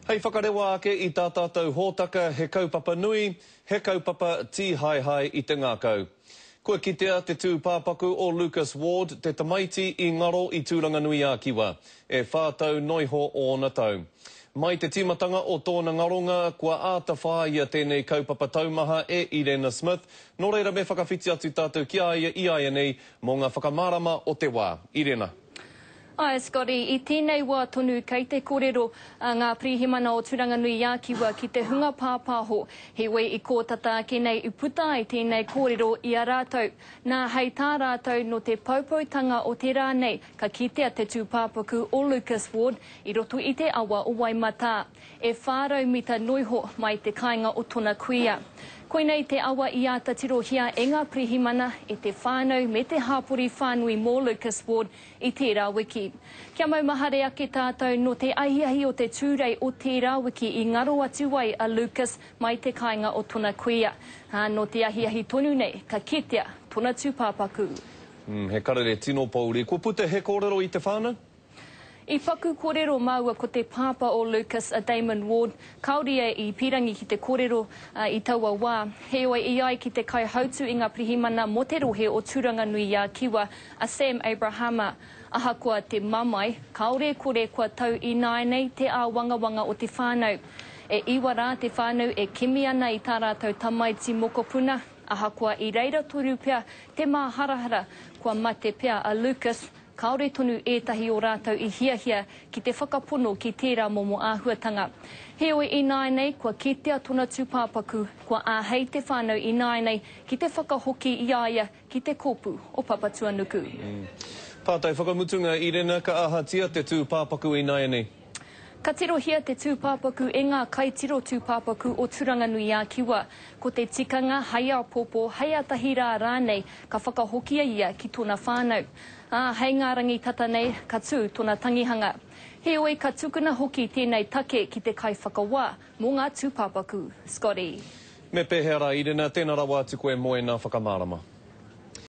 Hei whakarewa ake i tā tātou hōtaka he kaupapa nui, he kaupapa tīhaehae i te ngākau. Kua kitea te tūpāpaku o Lucas Ward, te tamaiti i ngaro i Tūranganui-ā-Kiwa, e whā tau noiho ōna tau. Mai te tīmatanga o tōna ngaronga, kua āta whāia tēnei kaupapa taumaha e Irena Smith, nō reira me whakawhiti atu tātou ki a ia i āianei mō ngā whakamārama o te wā. Irena. Ae Scotty, i tenei wa tonu kei te korero a nga Pirihimana o Turanganui-a-Kiwa ki te hunga papaho, he wei i ko tata ake nei i puta ai tenei korero i a ratou. Na, hei ta ratou no te poupoutanga o te ra nei ka kitea te tupapaku o Lucas Ward i roto i te awa o Waimata, e wha rau mita noiho mai te kainga o tona kuia. Koinei te awa i ata tirohia e nga Pirihimana, e te whanau me te hapori whanui mo Lucas Ward, i tērā wiki. Kia maumahare ake tātou nō te ahiahi o te Tūrei o tērā wiki i ngaro atu ai a Lucas mai te kāinga o tona kuia, ā, nō te ahiahi tonu nei ka kitea tona tūpāpaku. Umm, he karere tino pouri. Kua puta he kōrero i te whānau? I paku kōrero māua ko te pāpā o Lucas, a Damon Ward, kāore ia i pīrangi ki te kōrero i taua wā. Heoi, i ai ki te kaihautū i ngā pirihimana mō te rohe o Tūranganui-ā-Kiwa, A Sam Abrahama, Ahakoa te mamae, kāore e kore kua tau ināianei te āwangawanga o te whānau. E iwa rā te whānau e kimi ana i tā rātou tamaiti mokopuna, ahakoa i reira tonu pea te māharahara kua mate pea a Lucas, kāore tonu ētahi o rātou i hiahia ki te whakapono ki tērā momo āhuatanga. Heoi ināianei kua kitea tona tūpāpaku, kua āhei te whānau ināianei ki te whakahoki i a ia Ki te kopu o Papatuanuku. Pātai whakamutunga, Irena, ka ahatia te tūpāpaku ināianei? Ka tirohia te tūpāpaku e ngā kaitiro tūpāpaku o Turanganui-ā-Kiwa. Ko te tikanga, hai āpōpō, hai ātahi rā rānei, ka whakahokia ia ki tōna whānau. Ā, hei ngā rangi tata nei, ka tū tōna tangihanga. Heoi, ka tukuna hoki tēnei take ki te kaiwhakawā. Mō ngā tūpāpaku, Scotty. Me pēhea rā, Irena, tēnā rawa atu koe mō ēnā whakamārama.